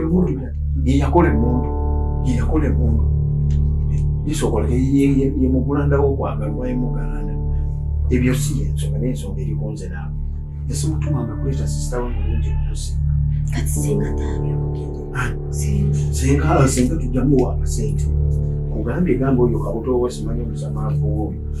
emundu yeyakola emundu yeyakola emundu isokola yemugulandawo okwagala oba yemugalanda ebyo si yensonga nensonga erikonze naawe esimutumanga kuleeta sisita we mulungi okusinga kati singa taabyokugira senga senga tujamu wakasente kugambye gamba oyo kabuto oba simanyi omusamaavu oyo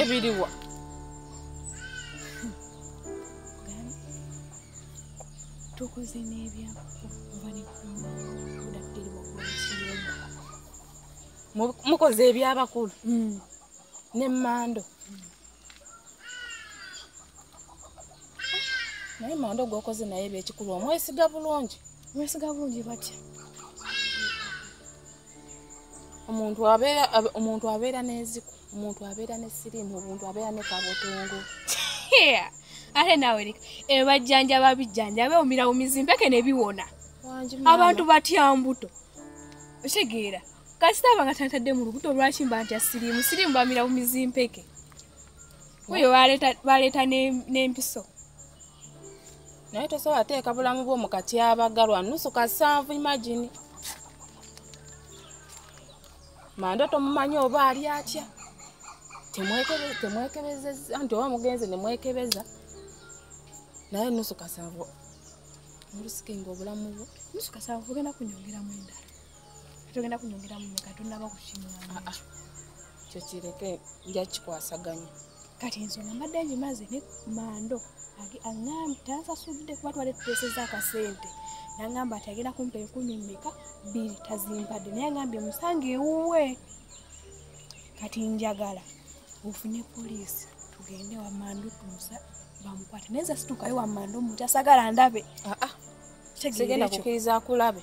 ebiriwa tukoze n'ebyapa oba nekuludakiriwakuakiyumba mukoze ebyabakulu hmm. nemando naye mando gwokoze naye ebyekikulu omwesiga bulungi mwesiga bulungi batya omuntu abeera omuntu abeera n'eziku omuntu abeera ne siriimu omuntu abeera ne kabotongo ate naawe leka ebajjanjaba bijjanjaba ewumirawumizi mpeke ne biwona abantu batya mbuto otegeera kasita aba nga tantadde mu lubuto lwaki mba nti asiriimu siriimu bamirawumizi mpeke oyo baleeta n'empiso ne naye tosobola teeka bulamu bwo mu katyabaga lwa nusu kasanvu imagini manda tomumanyi oba ali atya temwekebezeza nti oba mugenzi nemwekebeza naye nusu kasanvu olusikinga obulamu bwo nusu kasanvu ogenda kunyongeramu endala togenda kunyongeramu meka tonaba kukinywa ah, ah. kyo kireke nja kikwasaganya kati ensonga mbadde ngimaze ne mando aŋambi tansasudde kuba twali tuteeseza akasente nangamba ati agenda kumpa enkumi meka bbiri tazimpadde naye agambye musanga ewuwe kati njagala ofune poliisi tugende wamando tumusa bamukwata naye zasitukayo wamando omuntu asagala ndabe ah, ah. tegenda kukiriza akulabe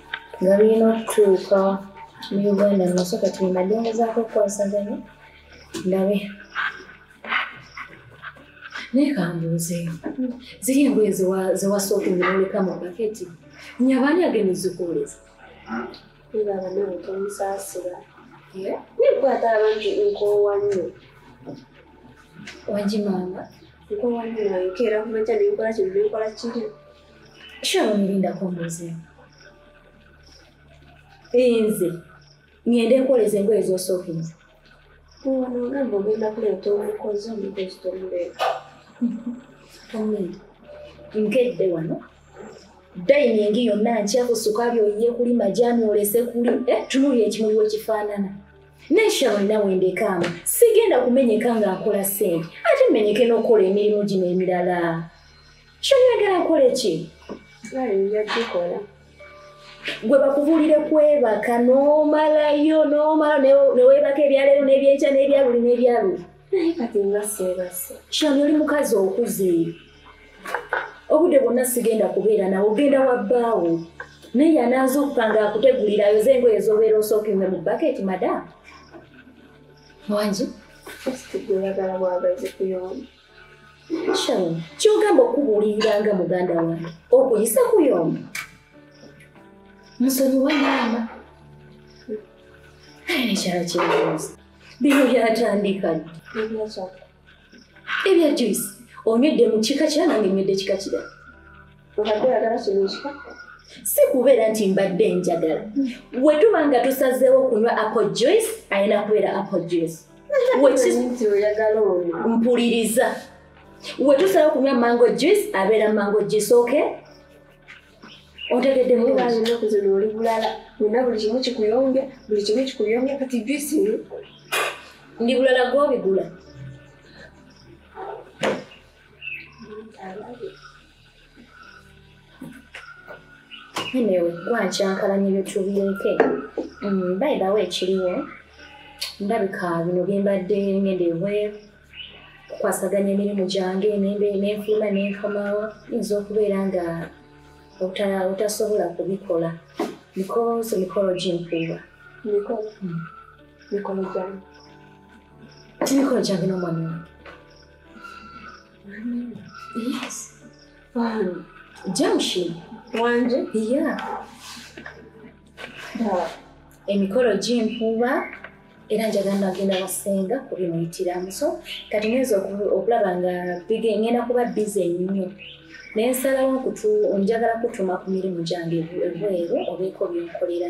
nga birina okutuuka mu uganda mumaso kati bemadengezaako okukwasaganya ndabe naye kambuuzeeyo ziri engoye zewasooka noleka mu paketi nyabaani agenda ozikuwuliza ebabanaotomusaasira nekwata abantu nkoowa nnyo wagimanga nkoowa nnyo nayokeera kumakya nenkola kino nenkola kiri kyawulirindako mbuuzeemu nze ngende nkoleza engoye zosookinza ono ogamba ogenda kuleeta omukozi omukozi tomuleeta omwenda nkedde wano dayiningi yonna nkyaku sukaali oyiye kuli majani olese kuli eh, tunuli ekimuli wekifaanana neshalo nina wendekaamu sigenda kumenyeka nga nkola sente ate menyeke n'okukola emirimu gino emirala Shani yagala nkole ki? Nali njagikola. Gwe bakubuulire kwebaka n'omalayo n'omala neweebaka ebyaleero n'ebyenkya n'ebyaluli n'ebyaluli. Naye kati nga seebase. Shani oli mukazi okuze. Obudde bwonna sigenda kubeera nawe ogenda wa bbaawo. Naye yanaaza okupanga akutegulira ayoze engoye z'obeera osookinze mu baketi madamu. Wangi? Kati gwe oyagala bwagazi kuyomba. Sharon, kyogamba okubuulirira nga muganda wange okuyisa kuyomba musonyiwa maama naye nekyala kyebuuzi bino byatandika ebya juice onywedde mu kika kyanange nywedde kika kirala obadde oyagala solution si kubeera nti mbadde njagala bwe tuba nga tusazeewo okunywa apple juice alina kubeera apple juice mpuliriza we tusalawo okunywa mango juice abeera mango juice ok otegedde munaku zino oli bulala wena buli kimu kikuyombya buli kimu kikuyombya kati juice ndi bulala gwobigula Anyway, gwankyankalanya ebyotubyeke mm, bayibawo ekiriwo ndabika bino byembadde ngenda ebweru kukwasaganya emirimu gyange nenfuluma nenkomawo yinza okubeera nga otasobola kubikola because mikolo gimpuuba mikolo hmm. gyange mikolo gyange nomwami wange Yes. Um, junction. Wanje? Yeah. Uh, emikolo gy'empuuba era njagala nagenda basenga kubimuyitiramu so kati ngenza okulaba nga ngenda kuba bize nnyo naye nsalawo njagala kutuma ku mirimu gyange ebweru obeeko byonkolera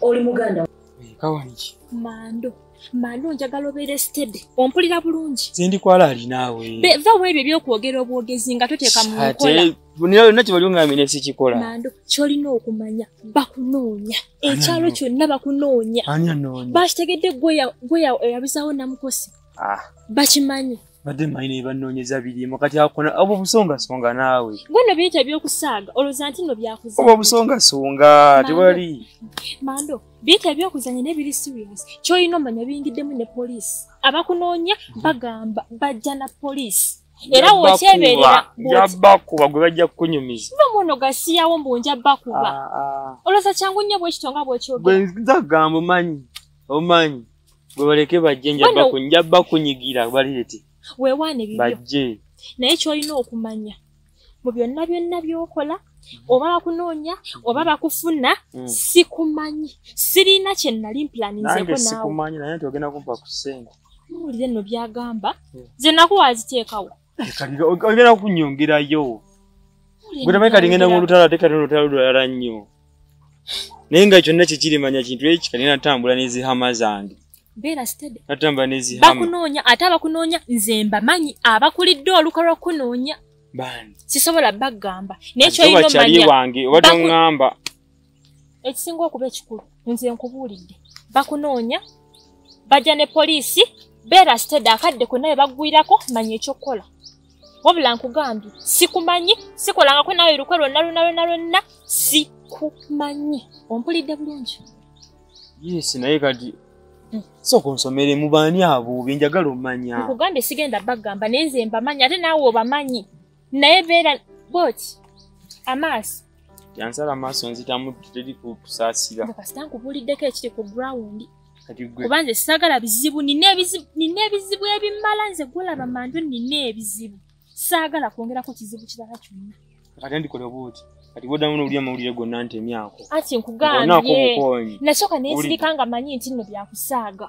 oli muganda kawaniki mando mando njagala obeere sitede ompulira bulungi zindikwala ali naawe va wa ebyo ebyokwogera obwogezi nga toteeka mu nkola nina yonna kyebali ongambye ne sikikola mando kyolina okumanya bakunoonya ekyalo kyonna bakunoonya bakitegedde gweyabizawo namukosi ah. bakimanyi badde manyi naye banoonyeza birimu kati akona obwo busongasonga naawe gwe no biyita ebyokusaaga olowooza nti no byakuza obwo busongasonga tewali mando biyita ebyokuzanya naye biri serious kyolina omanya biyingiddemu ne poliisi abakunoonya mhm. bagamba bajja na poliisi era wokyeberera njabakuba gwe bajja kukunyumiza no muno gasiyawo mbu njabakuba ah, ah. olowooza kyangu nnyo bwekito nga bwekyogera gwe nzagamba omanyi omanyi gwe baleke bajje njabba ku njabba kunyigira balireti wewaana ebibyo bajje naye kyolina okumanya mu byonna byonna byokola oba bakunoonya oba bakufuna mm. sikumanyi sirina kyenali mplaninzeko nawe naye nti ogenda kumpa ku sente muwulire nno byagamba mm. ze nakuwa aziteekawo ogenda kunyongerayo gwetamai kati ngenda mulutalo ate kati olutalo lulala nnyo naye nga kyonna kyekirimanya kintu eki kati natambula nezihama zange natambula nezibakunoonya ate abakunoonya nze mbamanyi abakulidde oluka lwokunoonya sisobola bagamba nekyoyinomanyawange oba tongamba ekisinga okuba ekikulu nze nkubuulidde bakunoonya bajja ne poliisi beera sitede akadde konna be baggwirako manya ekyokukola wabula nkugambye sikumanyi sikolangako naawe lukwe lwonna lwonna lwonna lwonna sikumanyi ompulidde bulungi yes naye kati hmm. soka onsomere mubaani abo benjagala omanya nkugambye sigenda bagamba naye nze mbamanyi ate naawe obamanyi naye beera bwoti amaaso yansala amaaso nzitamu teri kusaasira kasita nkubuuliddeko ekiri ku grawundi kuba nze sagala bizibu nina ebizibu ebimala nze gwolaba manju nina ebizibu saagala kwongerako kizibu kirala kyonna kati ndikola obuuti kati bwodamu nowulira amawulire gonna ntemyako ati nkugambye nasooka nensirika nga manyi nti nno byakusaaga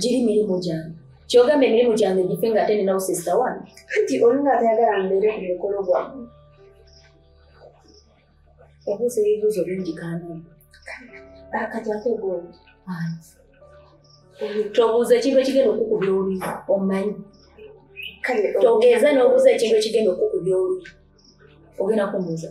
giri mirimu gyange kyogamba emirimu gyange gife nga ate ninawo sisita wano anti olinga atayagala mbeere ku mukolo gwamu obuuza ebibuuzo bingi kandi akati ate gwomu tobuuza ekintu ekigenda okukubya oluyi omanyi togeza n'obuuza ekintu ekigenda okukubya oluyi ogenda kumuuza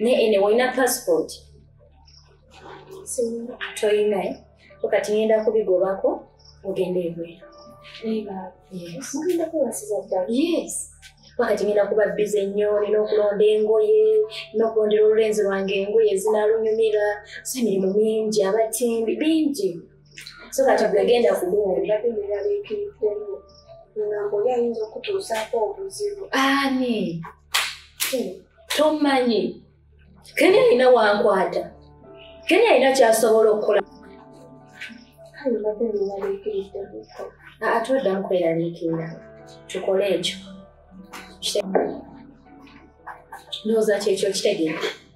ne ene olina passport toyina eh? kati ngenda kubigobako ogenda ebweru wakati ngenda kuba bize nnyo nina okulonda engoye nokulondera olulenzi lwange engoye zinalunyumira so emirimu mingi abatimbi bingi so kati bwegenda kubuwulira bimerabiikiriddemu ngambo oli ayinza okutuusaako obuzibu ani tomanyi kenya alina wankwata kenya alina kyasobola okukola ate oddamu kweraliikirira tukole ekyo ndowooza kyekyo kitegeera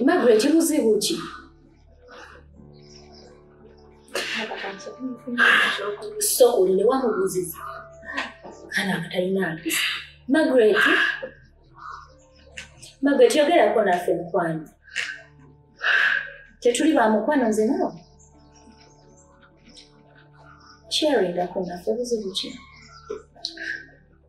Margaret buzibu ki? So uline wamubuziza kana akatalina mpisa Margaret Margaret yogera ko naffe mukwano tetuli ba mukwano nze nawe sharing ako naffe buzibu ki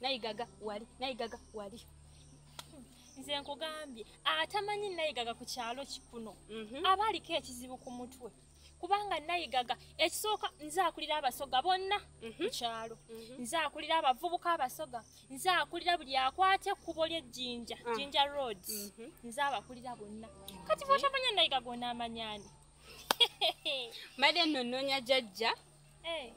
nayigaga wali nayigaga wali nze nkugambye atamanyi nayigaga ku kyalo kikuno mhm. aba aliko ekizibu ku mutwe kubanga nayigaga ekisooka nze akulira abasoga bonna mhm. ku kyalo mhm. nze akulira abavubuka abasoga nze akulira buli akwata ekkubo ly'ejjinja ah. jinja road nze abakulira bonna kati bwotamanya nayigaga onaamanyani mbadde nno nnoonya jajja eh.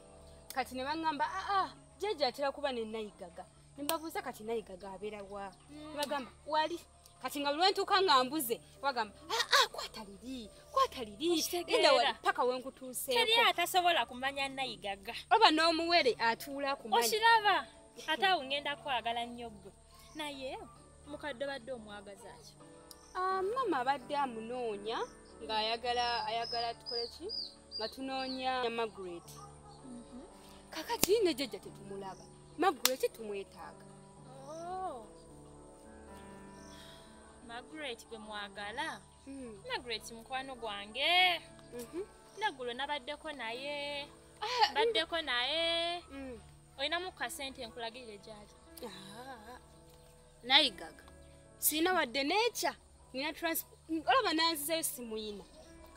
kati ne baŋŋamba aa ah, ah, jjajja atera kuba ne nayigaga ne mbabuuza kati nayigaga abeera wa hmm. bagamba wali kati nga bulwentuuka nga mbuze bagamba aa ah, kwata liri kwata liri enda wali paka wenkutuuseeko teri atasobola kumanya nayigaga oba n'omuwere atuula kumanya okiraba ate awo ŋŋenda kwagala nnyo ggwe naye mukadde obadde omwagaza ki ah, maama abadde amunoonya ng'ayagala ayagala tukole ki nga tunoonya magret mhm. kakati ne jjajja tetumulaba magret tumwetaaga oh. magret gwe mwagala hmm. magret mukwano gwange mhm. naggulo nabaddeko naye ah, baddeko naye hmm. olinamu kasente nkulagirire gyali nayigaga sirina wadde nekya nina olaba nanzizeyo simuyina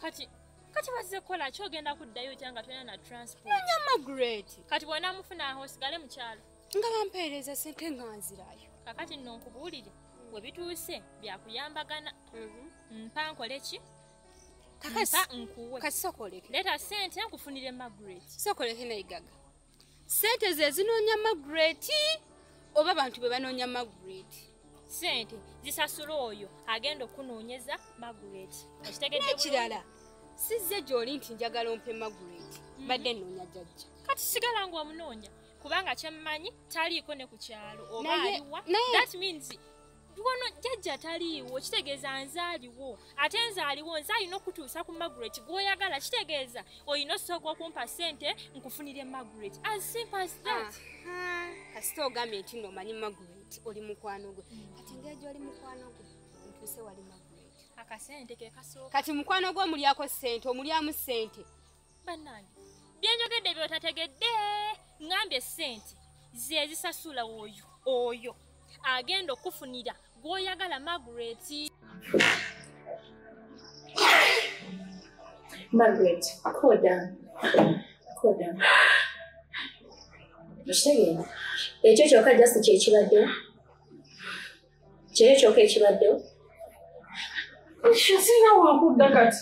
kati kati bazize kukola ki ogenda kuddayo otya nga tolina na transportnonya magret kati bwona mufuna aho osigale mukyalo nga bampeereza sente nga nzirayo kakati nno nkubuulire we bituuse byakuyambagana mhm. mpa nkole ki kakasa nkuwe kati sokoleke leeta sente nkufunire magret sokoleke nayigaga sente zezinoonya magret oba bantu be banoonya magret sente zisasula oyo agenda okunoonyeza magret ekitegedekirala sizze gyoli nti njagala ompe magret mhm. badde noonya jajja kati sigala nga omunoonya kubanga kyemmanyi taliiko ne ku kyalo oba aliwa that means wano jjajja taliiwo kitegeeza nze aliwo ate nze aliwo nze alina okutuusa ku magret gwoyagala kitegeeza olina osooka okumpa sente nkufunire magret as simple as that kasita ogambye nti no omanyi magret oli mukwano gwe kati ngeri gyoli mukwano gwe ntuuse wali magret akasente kekasooka kati mukwano gwe omulyako sente omulyamu sente bannange byenjogedde byotategedde ngambye sente zezisasula oyo oyo agenda okufunira gwoyagala margaret margaret koda koda okitegeera ekyo kyoka just kyekibadde kyeyo kyoka ekibadde singa wakudda kati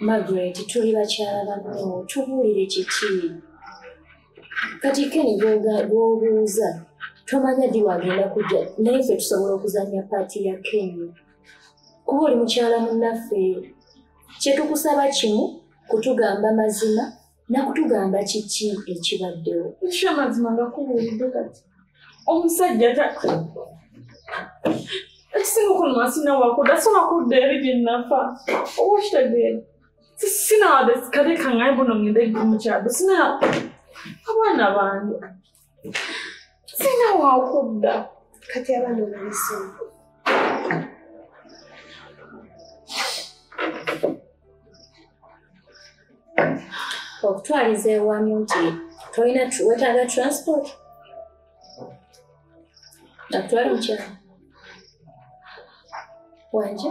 Margaret tuli bakyala banno tubuulire kiki kati keni gwobuuza tomanya ddi wagenda kujja naye ffe tusobola okuzanya paati ya keni kuba oli mukyala munnaffe kyetukusaba kimu kutugamba mazima nakutugamba kiki ekibaddewo ekyo amazima ngakubuulidde kati omusajja taka ekisinga okunumasi nawako dasobola kudda eri byenafa oba okitegeera sinawadde kale kangaye buno ngende mukyalo sina abaana bange sina wakudda kati abaana obanesoma okutwaliza ewamu nti tolina wetaaga transport nakutwala mukyalo wanje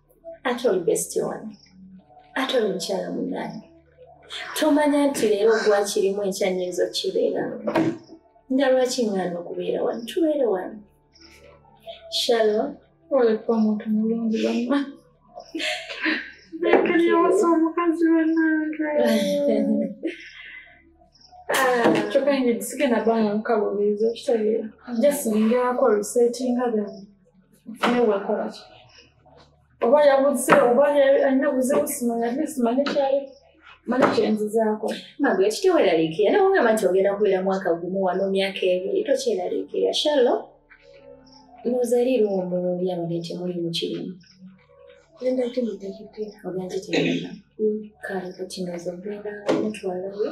ate oli besiti wange ate oli mukyala munange tomanya nti leero gwakirimu enkya nyinza okukibeera nga lwaki ŋŋaana okubeera wano tubeere wano shalo oleka omuntu mulungi wamma ekanyawosa omukazi wanange kyokka nge sigenda banga mukabulizo kitegeera just ningerako resetinga then newekolaki oba yabuze oba alina buzibu simanya at least manye kyali mani kyenzizaako magu ekiteweraliikirira nawe ngamba nti ogenda kubeera mwaka gumu wano myaka ebiri tokyeraliikirira shallo nozaliirwa omulungi abadde temuli mukirimu ogenzitegera kale kati noza ogenda mutwalayo